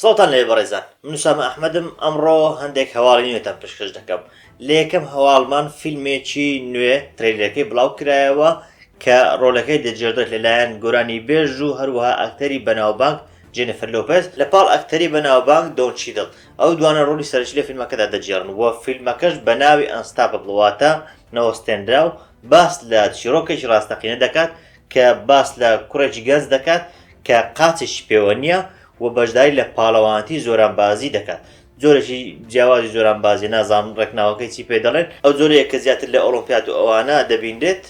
سڵتان لێ بەڕێزان منوسامە ئەحمەدم ئەمڕۆ هەندێک هەواڵی نوێتان پشکش دەکەم لە یەکەم هەواڵمان فیلمێکی نوێ ترێلەکەی بڵاو کرایەوە کە ڕۆلەکەی دەجێدرێت لەلایەن گۆرانی بێژ و هەروەها ئەکتەری بەناوبانگ جێنفر لۆپز لە پاڵ ئەکتەری بەناوبانگ دۆنچیدڵ ئەو دوانە ڕۆلی سەرەکی لە فیلمەکەدا دەگێڕن و فیلمەکەش بە ناوی Unstoppable واتە نەوەستێنراو باس لە چیڕۆکێکی ڕاستەقینە دەکات کە باس لە کوڕێکی گەنج دەکات کە قاچێکی پێوە نییە و بەشداری لە پاڵەوانەتی زۆرانبازی دەکات جۆرێکی جیاوازی زۆرانبازی نازانم ڕێکناوەکەی چی پێ دەڵێن ئەو جۆرەیە کە زیاتر لە ئۆڵۆمپیاد و ئەوانە دەبینرێت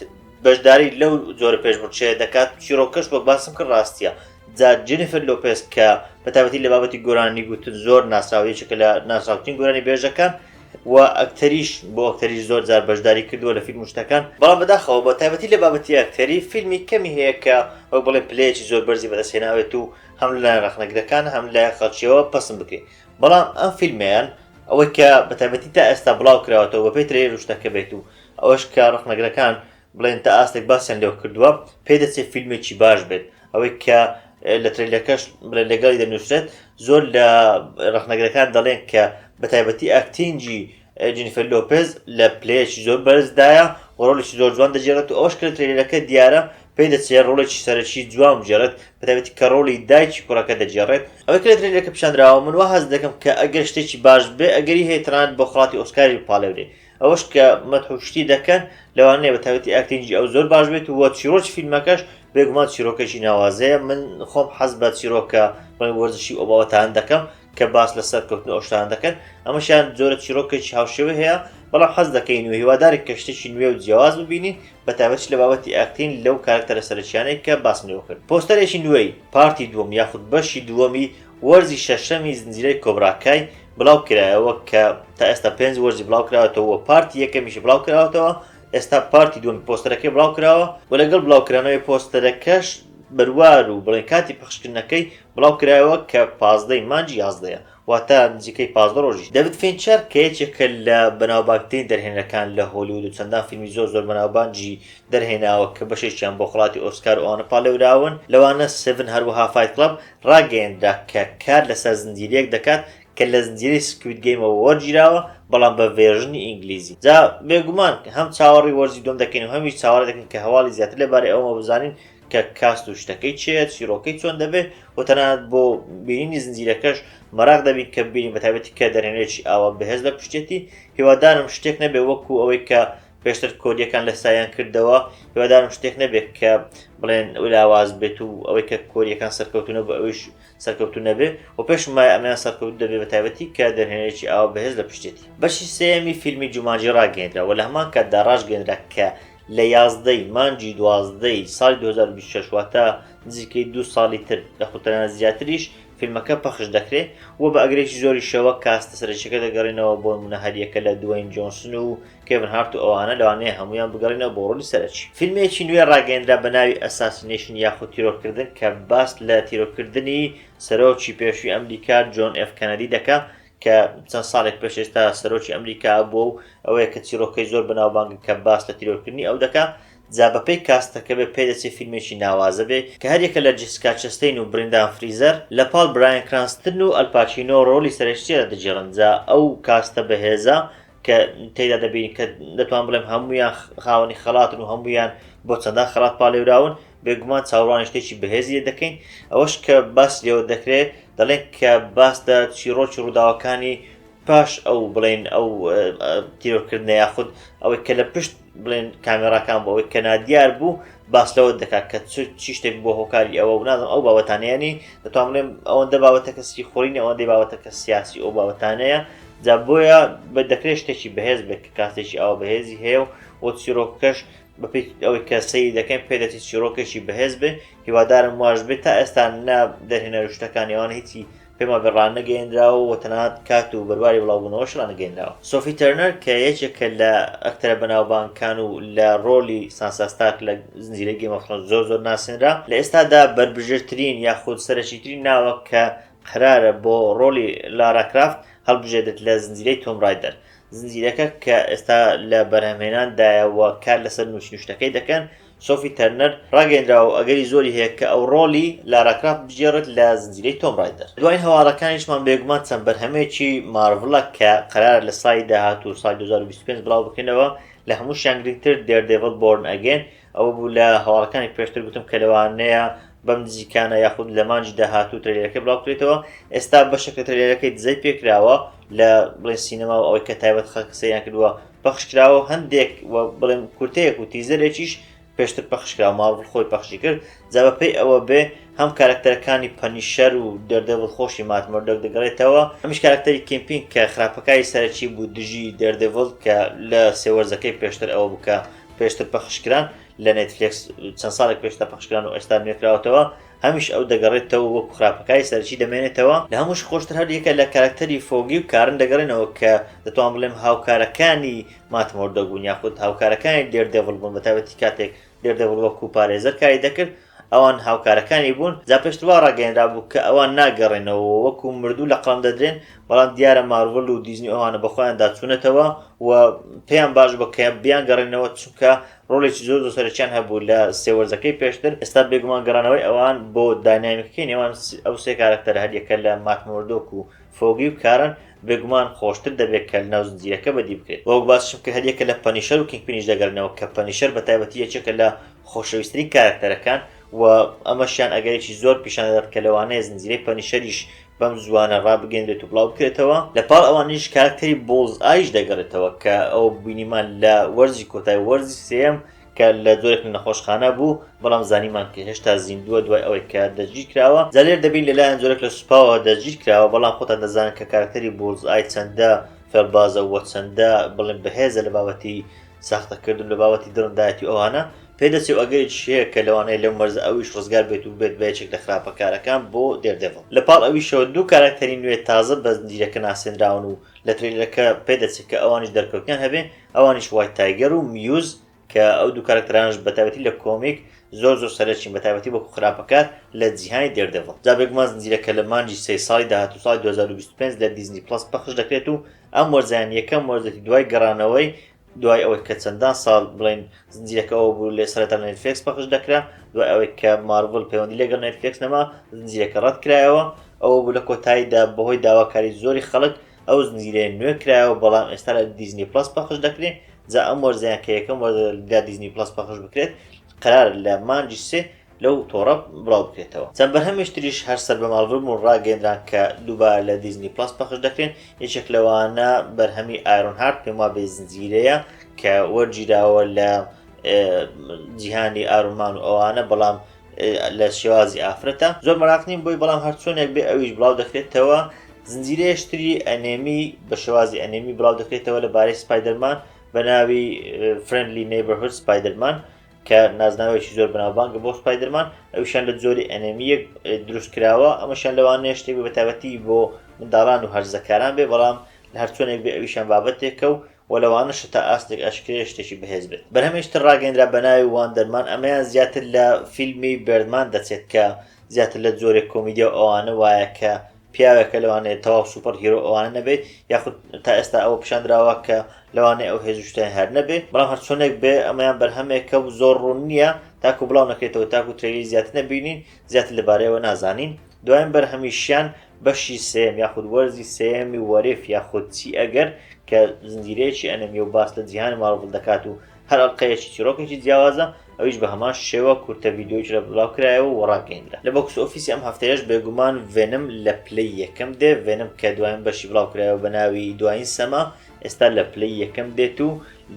بەشداری لەو جۆرە پێشبڕکێیە دەکات چیرۆکەش وەک باسم کرد ڕاستیە جا جنیفر لۆپێس کە بەتابەتی لە بابەتی گۆرانی گوتن زۆر ناسراوە یەکێکە لە ناسراوترین گۆرانی بێژەکان و ئەکتەریش بۆ ئەکتەریش زۆر جار بەشداری کردووە لە فیلم شتەکان بەڵام بەداخەوە بە تابەتی لە بابەتی ئەکتەری فیلمی کەمی هەیە کە وەک بڵێ پلەیەکی زۆر بەرزی بەدەستێناوێت و هەم لە ڕخنەگرەکان هەم لە خەڵکیەوە پسم بکرێت بەڵام ئەم فیلمیان ئەوەی کە بەتابەتی تا ئێستا بڵاو کراوەەوە بەپی ترێ روشتەکە بێت و ئەوەش کە ڕەخنەگرەکان بڵێن تا ئاستێک باسیان لێوە کردووە پێ دەچێت فیلمێکی باش بێت ئەوەی کە لە ترەیلەکەش بڵێن لەگەڵی دەنووسێت زۆر لە ڕەخنەگرەکان دەڵێن کە بە تایبەتی ئاکتینگی جنیفەر لۆپێز لە پلەیەکی زۆر بەرزدایە و ڕۆڵێکی زۆر جوان دەجێڕێت و ئەوش کرد ترێلەکە دیارە پێی دەچێت ڕۆڵێکی سەرەکی جوان بجێڕێت بەتابێتی کە ڕۆڵی دایکی کوڕەکە دەجێڕێت ئەوەی کرێت ترێلەکە پیشاندراوە من وە هەز دەکەم کە ئەگەر شتێکی باش بێ ئەگەری هەیە تەنانەت بۆ خڵاتی ئۆسکاری پاڵێورێ ئەوەش کە مەدح و شتی دەکەن لەوانەیە بە تایبەتی ئاکتینگی ئەو زۆر باش بێت و چیرۆکی فیلمەکەش بێگومان چیرۆکەکی ناوازەیە من خۆم حەز بە چیرۆکە بڵێ وەرزشی ئەو باوەتان دەکەم کە باس لە سەرکەوتن ئەوشتان دەکەن ئەمەشیان زۆرە چیرۆکێکی هاوشێوە هەیە بەڵام حەز دەکەین و هیوادارێک کە شتێکی نوێ و جیاواز ببینین بە تایبەت لە بابەتی ئاکتین لەو کارکتەرە سەرچیانەی کە باسم لێوە کرد پۆستەرێکی نوێی پارتی دووەم یاخود بەشی دووەمی وەرزی شەشەمی زنجیرەی کۆبرا کای بڵاو کرایەوە کە تا ئێستا پێنج وەرزی بڵاو کراوەتەوە و پارتی یەکەمیشی بڵاو کراوەتەوە، ئێستا پارتی دووەمی پۆستەرەکەی بڵاو کراوە و لەگەڵ بڵاو کرانەوەی پۆستەرەکەش بەروار و بڵێن کاتی پەخشکردنەکەی بڵاو کرایەوە کە پازدە ی مانگی یازدەیە واتە نزیکەی پازدە ڕۆژی دەڤید فینچەر کە یەکێکە لە بەناوبانگترین دەرهێنەرەکان لە هۆلیوود و چەندان فیلمی زۆر زۆر بەناوبانگی دەرهێناوە کە بەشێکیان بۆ خەڵاتی ئۆسکار و ئەوانە پاڵێوراون لەوانە سڤن هەروەها فایت کڵەب ڕاگەیەنرا کە کار لەسەر زنجیرەیەک دەکات کە لە زنجیرەی سکوید گەیمەوە وەرگیراوە بەڵام بە ڤێرژنی ئینگلیزی جا بێگومان هەم چاوەڕی وەرزی دووەم دەکەین و هەمیش چاوەڕێ دەکەین کە هەواڵی زیاتر لەبارەی ئەوەوە بزانین کە کاست و شتەکەی چێت چیرۆکەی چۆن دەبێت و تەنانەت بۆ بینینی زنجیرەکەش مەراق دەبین کە بینین بەتابەتی کە دەرێنێکی ئاوا بەهێز لە پشتێتی هیوادارم شتێک نەبێ وەکو ئەوەی کە پێشتر کۆریەکان لە سایان کردەوە هیوادارم شتێک نەبێت کە بڵێن لاواز بێت و ئەوەی کە کۆریەکان سەرکەوتونە بە ئەوش سەرکەوتو نەبێ و پێش ما ئەمیان سەرکەوت دەبێت بە تایبەتی کە دەرهێنێکی ئاوا بەهێز لە پشتێتی بەشی سێمی فیلمی جومانجی ڕاگەێنرا و لە هەمان کاتدا ڕژگەێنرا کە لە یازدەی مانجی دوازدەی ساڵی 2026 واتە نزیکەی دو ساڵی تر لە خوتەنە زیاتریش فیلمەکە پەخش دەکرێت و بە ئەگرێکی زۆری شەوە کاستە سەرچەکە دەگەڕێنەوە بۆ منە هەریەکە لە دوایین جۆنسن و کێڤن هارت و ئەوانە لەوانەیە هەموویان بگەڕێنەوە بۆ ڕۆلی سەرەکی. فیلمێکی نوێ ڕاگەیەندرا بە ناوی ئەساسینەیشن یاخود تیرۆرکردن کە باس لە تیرۆرکردنی سەرۆکی پێشووی ئەمریکا جۆن ئێف کەنەدی دەکا کە چەند ساڵێک پێش ئێستا سەرۆکی ئەمریکا بووە و ئەوەیە کە چیرۆکەی زۆر بەناوبانگە کە باس لە تیرۆرکردنی ئەو دەکا جا بەپێی کاستەکە بێ پێدەچێ فیلمێکی ناوازە بێ کە هەریەکە لە جیسکا چەستەین و برندان فریزەر لە پاڵ برایان کرانستن و ئەلپاچینۆ ڕۆلی سەرەکییەدا دەگێڕن جا ئەو کاستە بەهێزە کە تێدا دەبین کە دەتوان بڵێم هەمویان خاوەنی خەڵاتن و هەمویان بۆ چەندان خەڵات پاالێراون بێگومان چاوڕانی شتێکی بەهێزیە دەکەین ئەوەش کە باس لێوە دەکرێت دەڵێن کە باس لە چیرۆکی ڕووداوەکانی پاش ئەو بڵێن ئەو تیرۆکردنە یاخود ئەوەی کە لە پشت بڵێن کامێڕاکان بۆ ئەوەی کەنادیار بوو باس لەوە دەکات کە چی شتێک بۆ هۆکاری ئەوە ونازم ئەو باوەتانیانی دەتوان بڵێم ئەوەندە باوەتە کەسی خۆرینە ئەوەندەی باوەتە کە سیاسی ئەو باوەتانەیە جا بۆیە بە دەکرێت شتێکی بەهێز بێت کە کاتێکی ئەوە بەهێزی هەیە و وە چیرۆکەش بەپی ئەوەی کە سەیری دەکەین پێدەتی چیرۆکێکی بەهێز بێ هیوادارم واش بێت تا ئێستا نە دەرهێنەر شتەکانیوان هیچی پەیمانگە ڕانەگەیەنراوە و تەنانەت کات و بەرواری بڵاوبوونەوەش ڕانەگەیەنراوە. سۆفی تەرنەر کە یەکێکە لە ئەکتەرە بەناوبانگکان و لە ڕۆڵی سانسا ستارک لە زنجیرەی گەیم ئۆف ثرۆنس زۆر زۆر ناسێنرا، لە ئێستادا بەربژێرترین یاخود سەرەکیترین ناوە کە قەرارە بۆ ڕۆڵی لارا کرافت هەڵبژێردرێت لە زنجیرەی تۆم ڕایدەر. زنجیرەکە کە ئێستا لە بەرهەمهێناندایە و کار لەسەر نووسین و شتەکەی دەکەن، سۆفی تەرنەر، ڕاگەیەندراوە و ئەگەری زۆری هەیە کە ئەو ڕۆڵی لارا کرافت بگێڕێت لە زنجیرەی تۆم ڕایدەر. دوایین هەواڵەکانیشمان بێگومان چەند بەرهەمێکی مارڤڵە کە قەرارە لە ساڵی داهاتوو ساڵی دوو هەزار و بیست و پێنج بڵاو بکرێنەوە، لە هەمووشیان گرنگتر دێردێڤڵ بۆرن ئەگەین ئەوە بوو لە هەواڵەکانی پێشتر گوتم کە لەوانەیە بەم نزیکانە یاخود لە مانگی داهاتوو ترەیلەرەکەی بڵاو بکرێتەوە، ئێستا بەشێک لە ترەیلەرەکەی دزەی پێکراوە لە بڵێن سینەما و ئەوەی کە تایبەت خەڵک سەیریان کردووە، پەخش کراوە و هەندێک وە بڵێم کورتەیەک و تیزەرێکیش پێشتر پەخش کراوە مارڤڵ خۆی پەخشی کرد جا بە پێی ئەوە بێ هەم کارەکتەرەکانی پەنیشەر و دێردێڤڵ خۆشی مات مۆردۆک دەگەڕێتەوە هەمیش کارەکتەری کیمپینگ کە خراپەکاری سەرەکی بوو دژی دێردێڤڵ کە لە سێ وەرزەکەی پێشتر ئەوە بوو کە پێشتر پەخش کران لە نێتفلێکس چەند ساڵێک پێشتر پەخش کران و ئێستا نوێ کراوەتەوە هەمیشە ئەو دەگەڕێتەوە و وەکو خراپەکاری سەرەکی دەمێنێتەوە، لە هەمووش خۆشتر هەر یەکە لە کارەکتەری فۆگی و کارن دەگەڕێنەوە کە دەتوانم بڵێم هاوکارەکانی مات مۆردۆک بوون یاخود هاوکارەکانی دێردێڤڵ بوون بە تایبەتی کاتێک دێردێڤڵ وەکو پارێزەر کاری دەکرد ئەوان هاوکارەکانی بوون، جا پێشتر وا ڕاگەیەنرابوو کە ئەوان ناگەڕێنەوە و وەکو مردوو لە قەڵەم دەدرێن، بەڵام دیارە مارڤڵ و دیزنی ئەوانە بەخۆیاندا چوونەتەوە و پێیان باش بووە کە بیانگەڕێننەوە چونکە ڕۆڵێکی زۆر زۆر سەرەکیان هەبوو لە سێ وەرزەکەی پێشتر ئێستا بێگومان گەڕانەوەی ئەوان بۆ داینامیکەکەی نێوان ئەو سێ کارەکتەر هەریەکە لە مات مۆردۆک و فۆگی و کارن بێگومان خۆشتر دەبێت کە لەناو زنجیرەکە بەدی بکرێت وەک باسشم کە هەریەکە لە پەنیشەر و کینگپینیش دەگەرنەوە کە پەنیشەر بە تایبەتی یەکێکە لە خۆشەویستترین کارەکتەرەکان و ئەمەشیان ئەگەرێکی زۆر پیشان دەدات کە لەوانەیە زنجیرەی پەنیشەریش بەم زووانە ڕابگەیەنرێت و بڵاو بکرێتەوە، لە پاڵ ئەوانیش کاراکتەری بۆڵز ئایش دەگەڕێتەوە کە ئەو بینیمان لە وەرزی کۆتای وەرزی سێیەم کە لە جۆرێک لە نەخۆشخانە بوو بەڵام زانیمان کە هێشتا زیندووە دوای ئەوەی کە دەستگیر کراوە جا لێر دەبین لەلایەن جۆرێک لە سوپاوە دەستگیر کراوە بەڵام خۆتان دەزانن کە کاراکتەری بۆڵز ئای چەندە فێڵبازە وە چەندە بڵێن بەهێزە لە بابەتی ساختەکردن لە بابەتی دڕندایەتی ئەوانە پێدەچێ و ئەگەریش هەیە کە لەوانەیە لەو مەرزە ئەویش ڕزگار بێت و ببێت بە یەکێک لە خراپەکارەکان بۆ دێردێڤڵ. لە پاڵ ئەویشەوە دوو کاراکتەری نوێ تازە بە زنجیرەکە ناسێنراون و لە ترەیلەرەکە پێدەچێ کە ئەوانیش دەرکەوتنیان هەبێ، ئەوانیش وایت تایگەر و میوز کە ئەو دوو کاراکتەرانەش بە تایبەتی لە کۆمیک زۆر زۆر سەرەکین بە تایبەتی وەکو خراپەکار لە جیهانی دێردێڤڵ. جا بێگومان زنجیرەکە لە مانگی سێی ساڵی داهاتوو ساڵی دوو هەزار و بیست و پێنج لە دیزنی پڵەس پەخش دەکرێت و ئەم وەرزەیان یەکەم وەرزێتی دوای گەڕانەوەی دوای ئەوەی کە چەندان ساڵ بڵێین زنجیرەکە ئەوە بوو لە سەرەتا لە نێتفلێکس پەخش دەکرا دوای ئەوەی کە مارڤڵ پەیوەندی لەگەڵ نێتفلێکس نەما زنجیرەکە ڕەت کرایەوە ئەوە بوو لە کۆتاییدا بەهۆی داواکاری زۆری خەڵک ئەو زنجیرەیە نوێ کرایەوە بەڵام ئێستا لە دیزنی پڵەس پەخش دەکرێت جا ئەم وەرزەیان کە یەکەم وەرزە لە دیزنی پڵەس پەخش بکرێت قەرار لە مانگی سێ لەو تۆڕە بڵاو بکرێتەوە. چەند بەرهەمێش تریش هەر سەر بەم ئەڵبم و ڕاگەیەندران کە دووبارە لە دیزنی پڵەس پەخش دەکرێن، یەکێک لەوانە بەرهەمی ئایرۆن هارت پێم وابێ زنجیرەیە کە وەرگیراوە لە جیهانی ئارون مان و ئەوانە بەڵام لە شێوازی ئافرەتە زۆر مەراق نیم بۆی بەڵام هەر چۆنێک بێ ئەویش بڵاو دەکرێتەوە زنجیرەیەشتری ئەنێمی بە شێوازی ئەنێمی بڵاو دەکرێتەوە لە بارەی سپایدەرمان بە ناوی فرندلی نەیبەرهود سپایدەرمان کە نازناوێکی زۆر بەناوبانگە بۆ سپایدرمان ئەوشان لە جۆری ئەنەمیەک دروست کراوە ئەمەشان لەوانەیە شتێک بە تابەتی بۆ منداڵان و هەرزەکاران بێ بەڵام لە هەرچۆنێک بێ ئەویشان بابەتێکە و و لەوانە شتا ئاستێک ئەشکرێ شتێکی بەهێز بێت بەرهەمێشتر ڕاگەندرا بە ناوی وان دەرمان ئەمەیان زیاتر لە فیلمی بردمان دەچێت کە زیاتر لە جۆرێک کۆمیدیا و ئەوانە وایە کە پیاوێکە لەوانەیە تەواو سوپەر هیرۆ ئەوانە نەبێت یاخود تا ئێستا ئەوە پیشاندراوە کە لەوانەیە ئەو هێز شتیان هەر نەبێت بەڵام هەرچۆنێک بێ ئەمەیان بەرهەمێکە و زۆر ڕوون نییە تاکو بڵاو نەکرێتەوە تاکو ترەیلی زیاتر نەبینین زیاتر لەبارەیەوە نازانین دوایین بەرهەمیشیان بەشی سێم یاخود وەرزی سێمی وەرف یاخود چی ئەگەر کە زنجیرەیەکی ئەنەمیە و باس لە جیهانی ماڵبڵ دەکات و هەر ئەڵقەیەکی چیرۆکێکی جیاوازە ئەویش بە هەمان شێوە کورتە ڤیددیوکی لە بڵاو کرایەوە و ڕاگەیندرا لە بۆکس ئۆفیسی ئەم هەفتەیەش بێگومان ڤێنم لە پلەی یەکەم دێ ڤێنم کە دوایین بەشی بڵاو کرایەوە بە ناوی دوایین سەما ئێستا لە پلەی یەکەم دێت و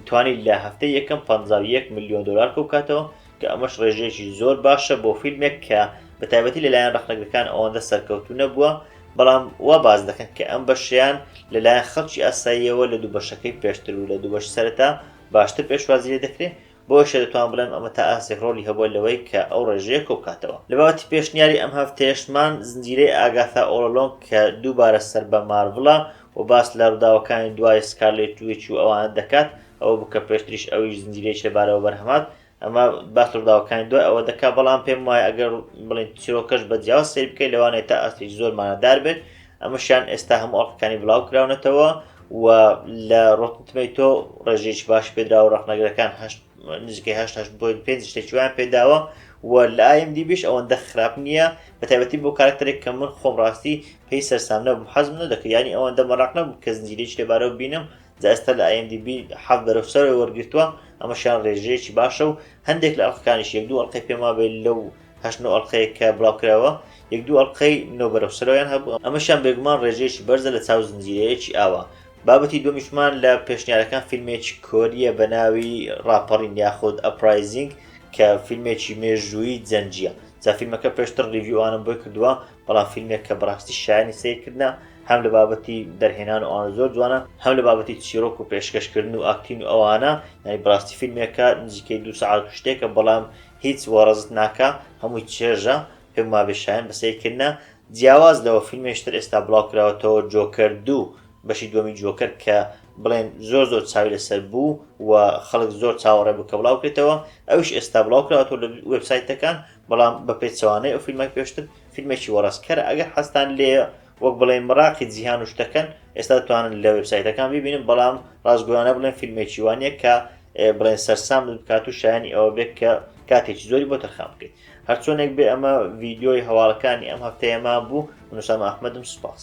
توانی لە هەفتە یەکەم 51 میلیۆن دلار کەوکاتەوە کە ئەمەش ڕێژەیەکی زۆر باشە بۆ فیلمێک کە بە تایبەتی لەلایەن ڕخنەگرەکان ئەوەندە سەرکەوتو نەبووە بەڵام وا باس دەکەن کە ئەم بەشەیان لەلایەن خەڵکی ئاساییەوە لە دوو بەشەکەی پێشتر و لە دوو بەش سەرەتا باشتر پێشوازی لێ دەکرێ بۆیشە دەتوان بڵێم ئەمە تا ئاستێک ڕۆلی هەبووە لەوەی کە ئەو ڕێژەیە کۆبکاتەوە لە باوەتی پێشنیاری ئەم هەفتەیەشمان زنجیرەی ئاگاثا ئۆڵۆلۆنگ کە دووبارە سەر بە مارڤڵە و باس لە ڕووداوەکانی دوای سکارلێت ویچ و ئەوانە دەکات ئەوە بوو کە پێشتریش ئەویش زنجیرەی شەبارەوە بەرهەمات ئەمە باس ڕووداوەکانی دوای ئەوە دەکات بەڵام پێم وایە ئەگەر بڵین چیرۆکەش بە جیاواز سیر بکەیت لەوانەیە تا ئاستێکی زۆر مانادار بێت ئەمەشیان ئێستا هەموو ئەڵلقەکانی بڵاو کراونەتەوە و لە ڕۆتنتمەی تۆ ڕێژێکی باش پێدرا و ڕەخنەگرەکان نزیکەی هەشت هەشت بۆین پێ شتێکیوان پێداوە و لە ئایم دیبیش ئەوەندە خراپ نییە بە تایبەتی بۆ کارکتەرێک کە من خۆم ڕاستی پێی سەرسامنە بم حەزم نەدەکە ینی ئەوەندە مەراق نەبوو کە زنجیرێکی لەبارەوە بینم جا ئێستا لە IMDB حەفت بەرەو سەرەوەی وەرگرتووە، ئەمەشیان رێژەیەکی باشە و هەندێک لە ئەڵقەکانیش یەک دوو ئەڵقەی پێم وابێ لەو هەشت نۆ ئەڵقەیە کە بڵاوکراوە یەک دوو ئەڵقەی نۆ بەرەو سەرەوەیان هەبوو، ئەمەشیان بێگومان رێژەیەکی بەرزە لە چاو زنجیرەیەکی ئاوا. بابەتی دووەمیشمان لە پێشنیارەکان فیلمێکی کۆرییە بە ناوی راپەڕین یاخود Uprising کە فیلمێکی مێژوویی جەنگییە، جا فیلمەکە پێشتر ریڤیوانم بۆی کردووە بەڵام فیلمێک کە بەڕاستی شایەنی سەیرکردنە هەم لە بابەتی دەرهێنان و ئەوانە زۆر جوانە هەم لە بابەتی چیرۆک و پێشکەشکردن و ئاکتین و ئەوانە یانی بڕاستی فیلمێکە نزیکەی دو سەعات و شتێکە بەڵام هیچ وەڕزت ناکە هەمووی چێژە پێم وابێ شایەن بە سەیرکردنە جیاواز لەوە فیلمێشتر ئێستا بڵاوکراوەتەوە جۆکەر دوو بەشی دووەمی جۆکەر کە بڵێن زۆر زۆر چاوی لەسەر بوو و خەڵک زۆر چاوەڕێ بوو کە بڵاوکرێتەوە ئەوش ئێستا بڵاوکراوەوە لە وبسایتەکان و بەڵام بە پێچەوانەی ئەو فیلمە پێشتر فیلمێکی وەڕسکەرە ئەگەر حەستان لێیە وەک بڵێن مراقی جیهان و شتەکەن ئێستا توانن لە وبسایتەکان ببینن بەڵام ڕاستگویانە بڵێن فیلمێکی وانە کە بڵێن سەرسام بکات و شایانی ئەوە بێت کە کاتێکی زۆری بۆ تەرخان بکەیت هەرچۆنێک بێ ئەمە ڤیددیۆی هەواڵەکانی ئەم هەفتەیەما بوو منوسام ئەحمەدم سوپاس.